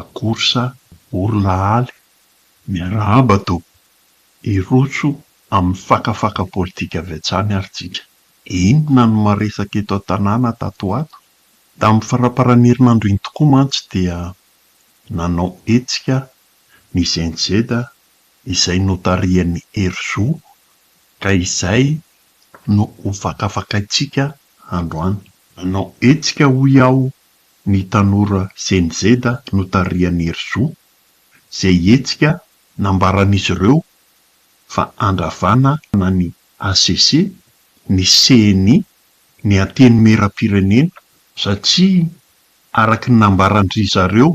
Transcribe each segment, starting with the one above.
Akorsa Borolahaly, miarahaba tompoko. Hirotso amin'ny fakafaka politika avy hatrany ary tsika. Inona no maresaka eto an-tanàna tato ho ato? Tamin'ny faramparan'ny herinandro iny tokoa mantsy dia nanao hetsika ny gnz izay notarihan'i Herizo ka izay no hofakafakaintsika androany. Nanao hetsika hoy aho Ny tanora Gen Z notarihan'i Herizo, izay hihetsika nambaran'izy ireo fa handravana na ny HCC, ny cni, ny Antenimierampirenena satria araka ny nambaran-dry zareo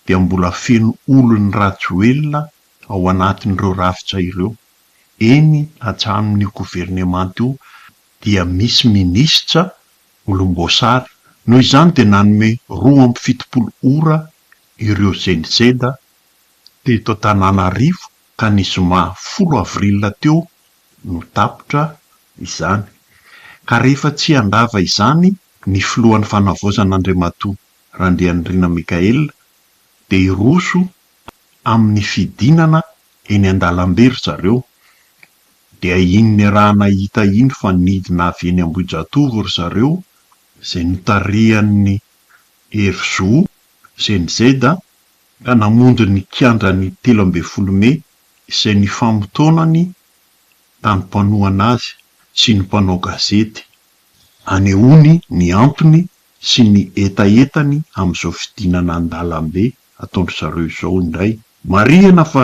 dia mbola feno olon'i Rajoelina ao anatin'ireo rafitra ireo. Eny, hatramin'io governemanta io dia misy minisitra volomboasary, noho izany dia nanome roa amby fitopolo ora ireo zendizenda teto Antananarivo ka ny zoma folo avril teo no tapitra izany ka rehefa tsy handrava izany ny filohan'ny fanavaozana Andriamatoa Randrianirina Michael dia hiroso amin'ny fidinana eny an-dalambe ry zareo Dia iny niarahana ita iny fa nidina avy eny Ambohijatovo ry zareo izay notarihan'ny Hevizo, cnz, ka namonjy ny kianja ny telo ambin'ny folo mey izay nifamotoanany tany mpanohana azy sy ny mpanao gazety hanehoany ny antony sy ny hetahetany amin'izao fidinana an-dalambe ataon-dry zareo izao indray. Marihina fa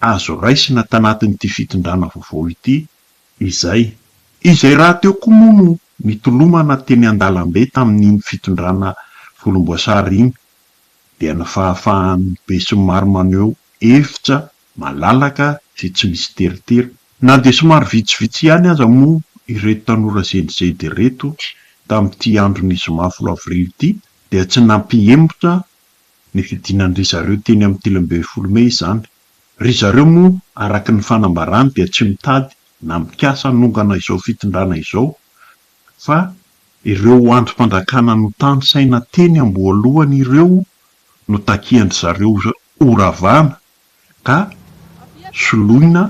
azo raisina tanatin'ity fitondrana vaovao ity izay. Izay rahateo koa moa no nitolomana teny an-dalambe tamin'iny fitondrana volomboasary iny dia ny fahafahan'ny besinimaro maneho hevitra malalaka sy tsy misy teritery. Na dia somary vitsivitsy ihany aza moa ireto tanora zendizedy ireto tamin'ity andron'ny zoma folo avrily ity dia tsy nampihemotra Nifidinandry zareo teny amin'ny telo ambin'ny folo mey izany. Ry zareo moa araka ny fanambarany dia tsy mitady na mikasa hanongana izao fitondrana izao fa ireo andrim-pandrakana notanisaina teny am-boalohany ireo no takian-dry zareo ho ravana ka soloina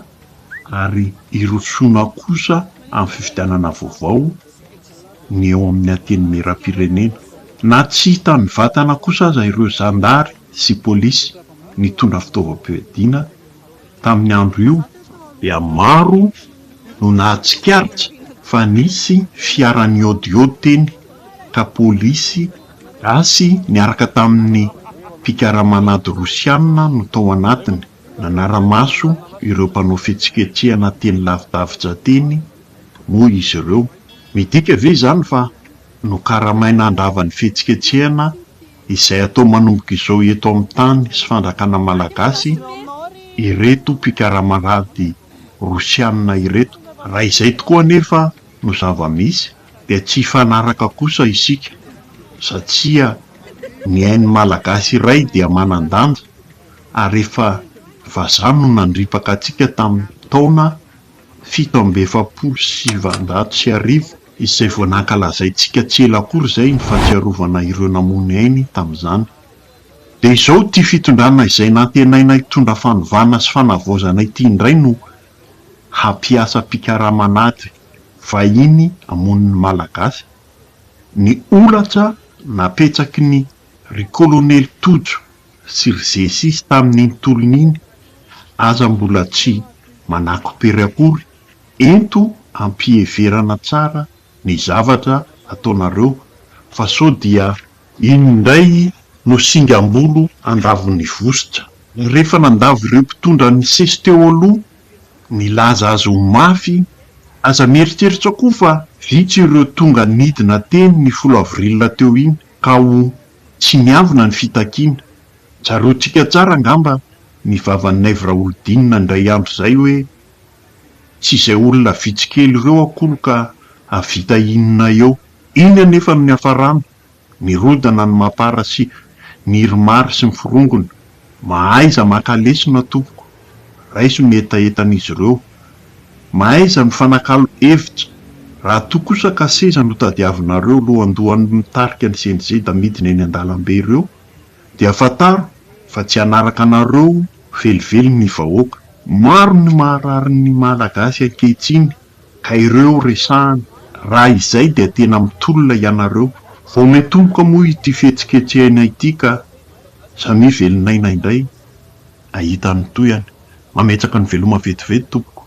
ary hirosoana kosa amin'ny fifidianana vaovao ny eo amin'ny Antenimierampirenena. Na tsy hita mivantana kosa aza ireo zandary sy polisy nitondra fitaovam-piadiana tamin'ny andro io, dia maro no nahatsikaritra fa nisy fiara niôdiôdy teny ka polisy Gasy niaraka tamin'ny mpikaramana ady Rosiana no tao anatiny, nanara-maso ireo mpanao fihetsiketsehana teny lavidavitra teny moa izy ireo. Midika ve izany fa nokaramaina handrava ny fihetsiketsehana izay atao manomboka izao eto amin'ny tany sy fanjakana malagasy ireto mpikaramana ady Rosiana ireto? Raha izay tokoa anefa no zava-misy, dia tsy hifanaraka kosa isika satria ny ain'ny Malagasy iray dia manan-danja ary efa vazaha no nandripaka antsika tamin'ny taona fito amby efapolo sy sivinjato sy arivo izay vao nankalazaintsika tsy ela akory izay ny fahatsiarovana ireo namono ainy tamin'izany. Dia izao ity fitondrana izay nantenaina hitondra fanovana sy fanavaozana ity indray no hampiasa mpikaraman'ady. vahiny hamono ny Malagasy, ny holatra napetsaky ny ry Kolonely Tojo sy ry Zesisy tamin'iny tolona iny aza mbola tsy manakopere akory, ento ampiheverana tsara ny zavatra ataonareo fa sao dia. Iny indray no singam-bolo andavon'ny vositra. Rehefa nandavo ireo mpitondra nisesy teo aloha Nilaza azy ho mafy, Aza mieritreritra koa fa vitsy ireo tonga nidina teny ny folo avril teo iny ka ho tsy miavona ny fitakiana. Tsaroantsika tsara angamba ny vavan'i Naivo Raholidinina indray andro izay hoe, Tsy izay olona vitsy kely ireo akory ka hahavita inona eo. Iny anefa no niafaràna, Mirodana ny mapara sy Ny irimary sy ny forongony Mahaiza maka lesona tompoko Raiso ny hetahetan'izy ireo Mahaiza mifanakalo hevitra Raha toa kosa ka seza no tadiavinareo Lohandohan'ny mitarika ny CNZ Amidiny eny an-dalambe ireo Dia fantaro fa tsy hanaraka anareo Velively ny vahoaka. Maro ny maharary ny Malagasy ankehitriny Ka ireo resahana, raha izay dia tena mitolona ianareo. Vao mitomboka moa ity fihetsiketsehana ity ka samia velon'aina indray hahita ny tohany. Mametraka ny veloma vetivety tompoko.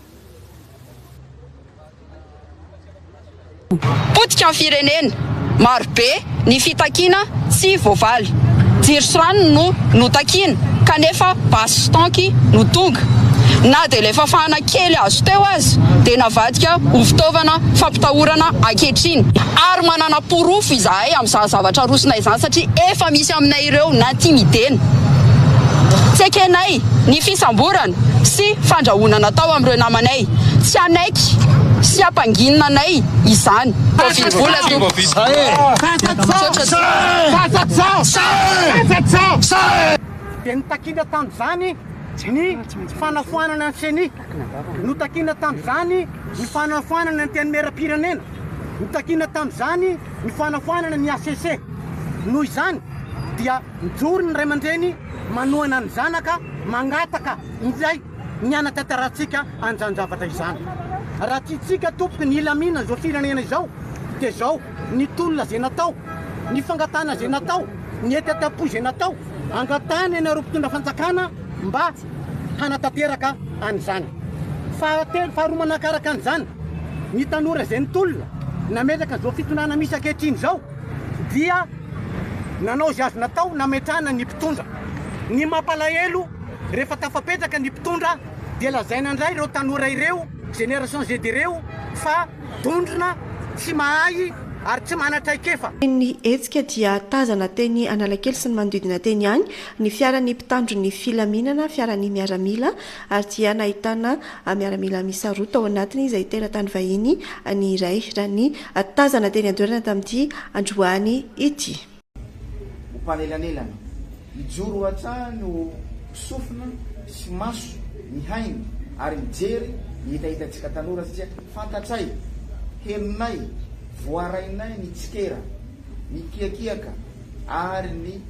Potika ny firenena, marobe. Ny fitakiana tsy voavaly. Jiro sy rano no notakiana kanefa basy sy tanky no tonga. Na dia ilay fafana kely azo teo aza dia navadika ho fitaovana fampitahorana ankehitriny. Ary manana porofo izahay amin'izany zavatra arosonay izany satria efa misy aminay ireo nantimidena. Tsy ekenay ny fisamborana sy fandrahonana atao amin'ireo namanay. Tsy hanaiky sy hampanginina anay izany. Covid vola tompoko. Misaotra. Dia ny takiana tamin'izany ny fanafoanana ny ceni, no takiana tamin'izany ny fanafoanana ny Antenimierampirenena, no takiana tamin'izany ny fanafoanana ny HCC. Noho izany dia mijoro ny ray aman-dreny manohana ny zanaka mangataka indray. Ny hanatantarantsika an'izany zavatra izany. Raha tiantsika tompoko ny hilaminana izao firenena izao dia izao ny tolona izay natao, ny fangatahana izay natao, ny hetahetam-po izay natao, angatahana ianareo mpitondra fanjakana mba hanatanteraka an'izany. Fahatelo, faharoa manakaraka an'izany, ny tanora izay nitolona nametraka an'izao fitondrana misy ankehitriny izao dia nanao izay azo natao nametrahana ny mpitondra. Ny mampalahelo, Rehefa tafapetraka ny mpitondra dia lazaina indray ireo tanora ireo, génération Z ireo, fa dondrona, tsy mahay ary tsy manan-traikefa. Teny nihetsika dia tazana teny Analakely sy ny manodidina teny ihany ny fiaran'ny mpitandro ny filaminana, fiaran'ny miaramila, ary dia nahitana miaramila miisa roa tao anatiny izay teratany vahiny ny iray, raha ny tazana teny an-toerana tamin'ity androany ity. ho mpanelanelana, hijoro hatrany ho sofina sy maso mihaino ary mijery ny hetahetantsika tanora satria fantatray, henonay, voarainay ny tsikera, ny kiakiaka ary ny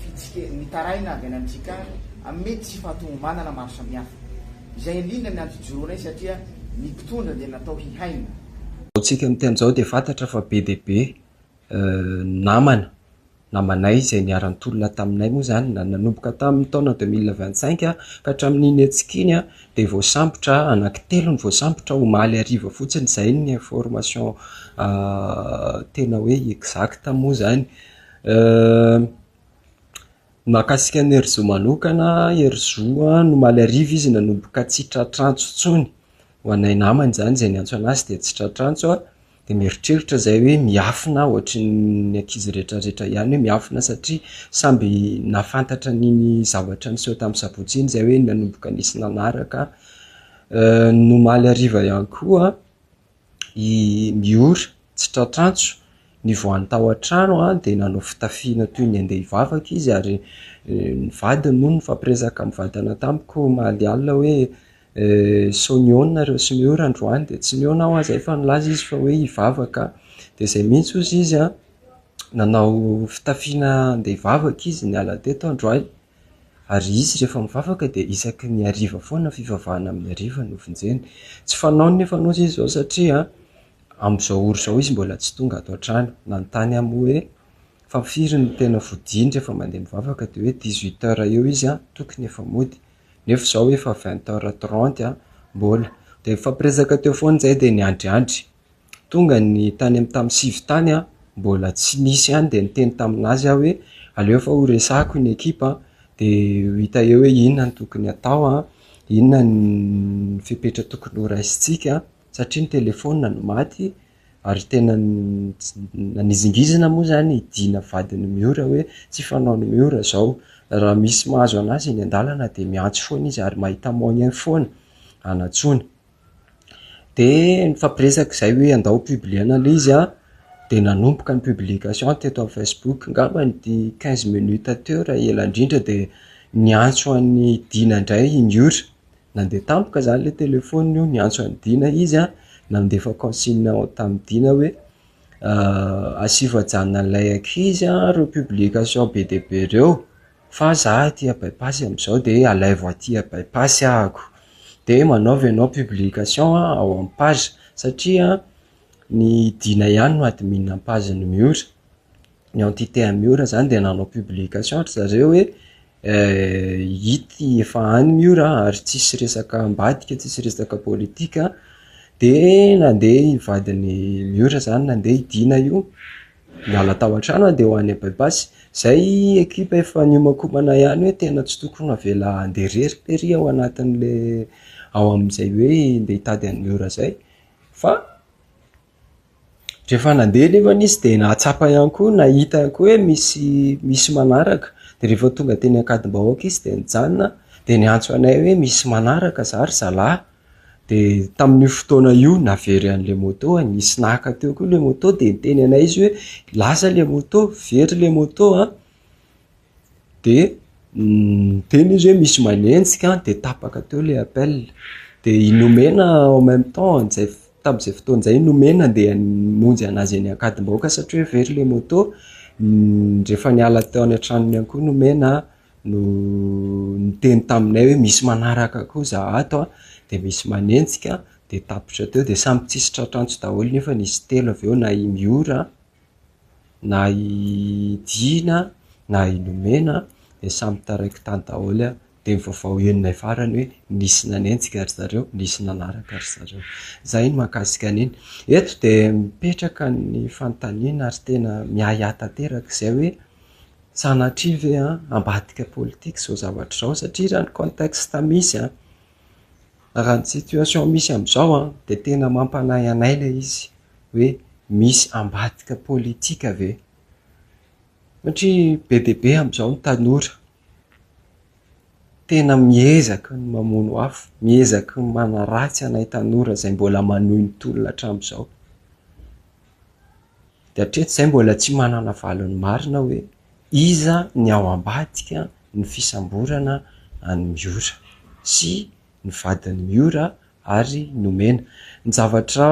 fitsike mitaraina avy any amin'ny trikany amin'ny mety tsy fahatomombanana maro samihafa. Izay indrindra ny antojoroanay satria ny mpitondra dia natao hihaino. Izao tsika miteny izao dia fantatra fa be dia be namana namanay izay niara-nitolona taminay moa izany na nanomboka tamin'ny taona deux mille vingt cinq ka hatramin'iny hetsika iny dia voasambotra anankitelo no voasambotra omaly hariva fotsiny izay ny information tena hoe exacte moa izany. Ny mahakasika an'i Herizo manokana, Herizo an, omaly hariva izy nanomboka tsy tra-trantso intsony, ho anay namany izany izay niantso an'azy dia tsy tra-trantso an. dia mieritreritra zay hoe miafina aho ohatry ny ankizy retraretra ihany hoe miafina satria samby nahafantatra an'iny zavatra niseho tamin'ny sabotsy iny zay hoe nanomboka nisy nanaraka euh, ny omaly hariva ihany koa i miora tsy tratrantso nivoany tao an-trano a dia nanao fitafiana toy ny andeha hivavaka izy ary euh, ny vadiny moa nifampirezaka mivantana tamiko omaly alina hoe Eh, sao nihaona nareo sy ny ora androany? Dia tsy nihaona aho aza efa nilaza izy fa hoe hivavaka. Dia izay mihitsy hozy izy an, nanao fitafiana handeha hivavaka izy niala teto androany. Ary izy rehefa mivavaka dia isaky ny hariva foana fivavahana amin'ny hariva no vonjeny. Tsy fanaony nefa hozy izy izao satria amin'izao ora izao izy mbola tsy tonga ato an-trano. Nanontany ahy moa hoe fa firy no tena vodiany rehefa mandeha mivavaka dia hoe dix-huit heures eo izy an, tokony efa mody. nefa izao efa vingt heures trente an, mbola, dia nifampiresaka teo foana izay dia niandriandry, tonga ny tany amin'ny tamin'ny sivy tany an, mbola tsy nisy an, dia niteny tamin'azy aho hoe aleo fa ho resahiko ny ekipa an, dia ho hita eo hoe inona no tokony hatao an, inona ny fepetra tokony ho raisintsika an, satria ny telefaonina no maty, ary tena nanizingizina moa izany i Dina vadin'i Miora hoe tsy fanaon'i Miora izao, raha misy mahazo an'azy eny an-dalana dia miantso foana izy ary mahita moyen foana hanatsoana. Dia nifampiresaka izay hoe andao ho publier-na ilay izy an, dia nanomboka ny publication teto amin'ny Facebook, angamba nity quinze minutes teo raha ela indrindra dia niantso an'i Dina indray i Miora. Nandeha tampoka zany le telephone io niantso an'i Dina izy an, nandefa consigne ao tamin'i Dina hoe asivo ajanona an'ilay ankizy an reo publication be dia be reo fa za aty a bypass am'zao de alaivo aty a bypass ahako, de manaova ianao publication ao am page satria an ny Dina ihany no admin am page n'i Miora. ny entité Miora zany de nanao publication ry zareo hoe eh, ity efa any Miora ary tsisy resaka ambadika, tsisy resaka politika, de nandeha i vadin'i Miora zany nandeha i Dina io, niala tao an-trano an de ho any Abaibasy, zay ekipa efa niomankomana ihany hoe tena tsy tokony avela handeha irery tery ao anatin'le ao amin'izay hoe ndeha hitady an'i Miora zay fa. Rehefa nandeha nefany izy dia nahatsapa ihany koa, nahita ihany koa hoe misy misy manaraka. Dia rehefa tonga teny Ankadimbahoaka izy dia nijanona, dia niantso anay hoe misy manaraka izaho ry zalahy. Dia tamin'io fotoana io navery an'ilay moto, nisy naka teo koa ilay moto dia niteny anay izy hoe lasa ilay moto, very ilay moto an! de niteny izy hoe misy manenjika de tapaka teo le appel de i Nomena en même temps amin'izay f- tamin'izay fotoana izay i Nomena ndeha hamonjy an'azy eny Ankadimbahoaka satria hoe very le moto N- rehefa niala teo any an-tranony ihany koa Nomena an, no niteny taminay hoe misy manaraka koa za ato an, de misy manenjika de tapitra teo de samy tsisy tratrantsy daholo nefa nisy telo avy eo na i Miora na i Dina na i Nomena dia samy taraiky tany daholo an, dia ny vaovao henonay farany hoe nisy nanenjika ry zareo, nisy nanaraka ry zareo. Izay ny mahakasika an'iny. Eto dia mipetraka ny fanontaniana ary tena miahiahy tanteraka izay hoe sanatria ve ambadika politika izao zavatra izao satria raha ny contexte misy an! Raha ny situation misy amin'izao dia tena mampanahy anay ilay izy hoe misy ambadika politika ve? Satria be dia be amin'izao ny tanora tena miezaka ny mamono afo, miezaka ny manaratsy anay tanora izay mbola manohy ny tolona hatramin'izao. Dia hatreto izahay mbola tsy manana valiny marina hoe Iza ny ao ambadika ny fisamborana an'i Miora sy ny vadin'i Miora ary nomena? Ny zavatra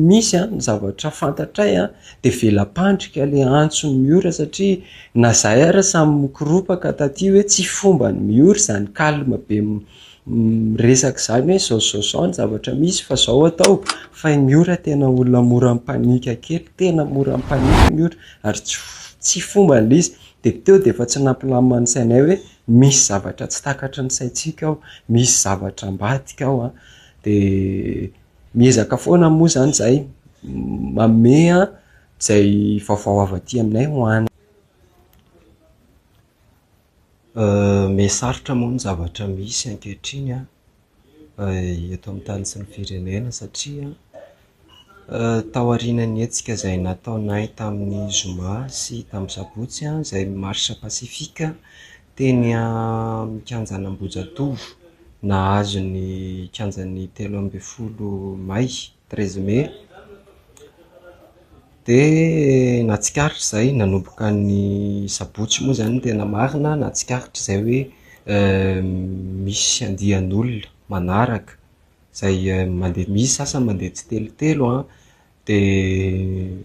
misy, ny zavatra fantatray dia vela-pandrika le antson'i Miora satria na zahay ary samy mikoropaka taty hoe tsy fomban'i Miora izany calme be miresaka izany hoe zao zao zao ny zavatra misy fa zao atao fa i Miora tena olona mora mipanika kely tena mora mipanika i Miora ary tsy tsy fombany le izy de teo de efa tsy nampilamina ny sainay hoe misy zavatra tsy takatry ny saintsika ao misy zavatra ambadika ao an de miezaka foana moa zany zay manome an zay vaovao avy aty aminay ho any Miha sarotra moa ny zavatra misy ankehitriny eto amin'ny tany sy ny firenena satria taorian'ny hetsika izay nataonay tamin'ny zoma sy tamin'ny sabotsy izay marche pacifique teny amin'ny kianjan'Ambohijatovo nahazo ny kianjan'ny telo ambin'ny folo may. treize mai, dia nahatsikaritra izay nanomboka ny sabotsy moa izany no tena marina, nahatsikaritra izay hoe misy andian'olona manaraka izay mandeha, misy ny sasany mandeha tsitelotelo an, dia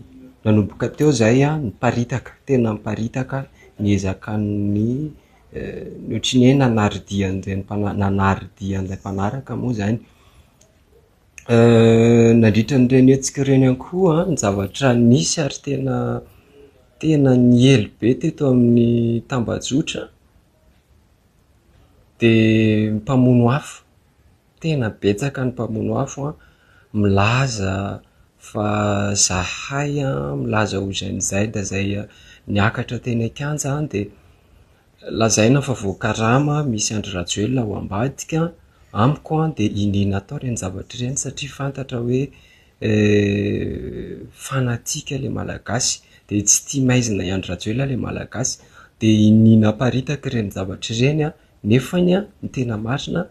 nanomboka teo izay an, niparitaka, tena niparitaka ny ezakan'ny, ohatran'ny hoe nanaridia an'izay, nanaridia an'ilay mpanaraka moa izany. Nandritra an'ireny hetsika ireny ihany koa ny zavatra nisy ary tena tena niely be teto amin'ny tambajotra dia ny mpamono afo, tena betsaka ny mpamono afo an, milaza fa zahay an, milaza ho izy any Zaida izay niakatra teny an-kianja dia Lazaina fa voakarama misy Andry Rajoelina ao ambadika, amiko an dia iniana atao ireny zavatra ireny satria fantatra hoe fanatique ilay Malagasy dia tsy tia maizina i Andry Rajoelina ilay Malagasy dia iniana aparitaka ireny zavatra ireny an, nefany an ny tena marina,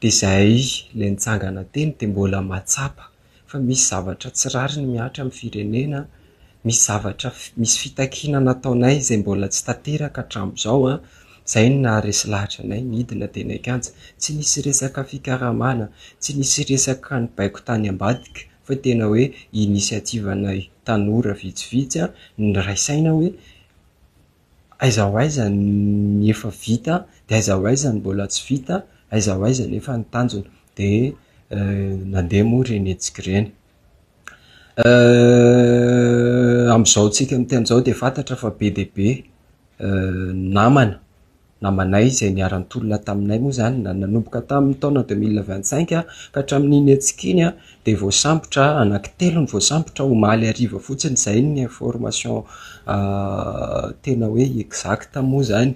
Dia izay ilay nitsangana teny dia mbola mahatsapa fa misy zavatra tsy rariny mihatra amin'ny firenena, misy zavatra, misy fitakiana nataonay izay mbola tsy tanteraka hatramin'izao an, izay no naharesy lahatra anay nidina teny an-kianja. Tsy nisy resaka fikaramana, tsy nisy resaka nibaiko tany ambadika fa tena hoe inisiativanay tanora vitsivitsy niray saina hoe Aiza ho aiza ny efa vita dia aiza ho aiza ny mbola tsy vita, aiza ho aiza anefa ny tanjona. Dia nandeha moa ireny hetsika ireny. Amin'izao tsika miteny izao dia fantatra fa be dia be namana, namanay izay niara-nitolona taminay moa izany na nanomboka tamin'ny taona deux mille vingt cinq ka hatramin'iny hetsika iny dia voasambotra anankitelo no voasambotra omaly hariva fotsiny izay ny information tena hoe exact moa izany.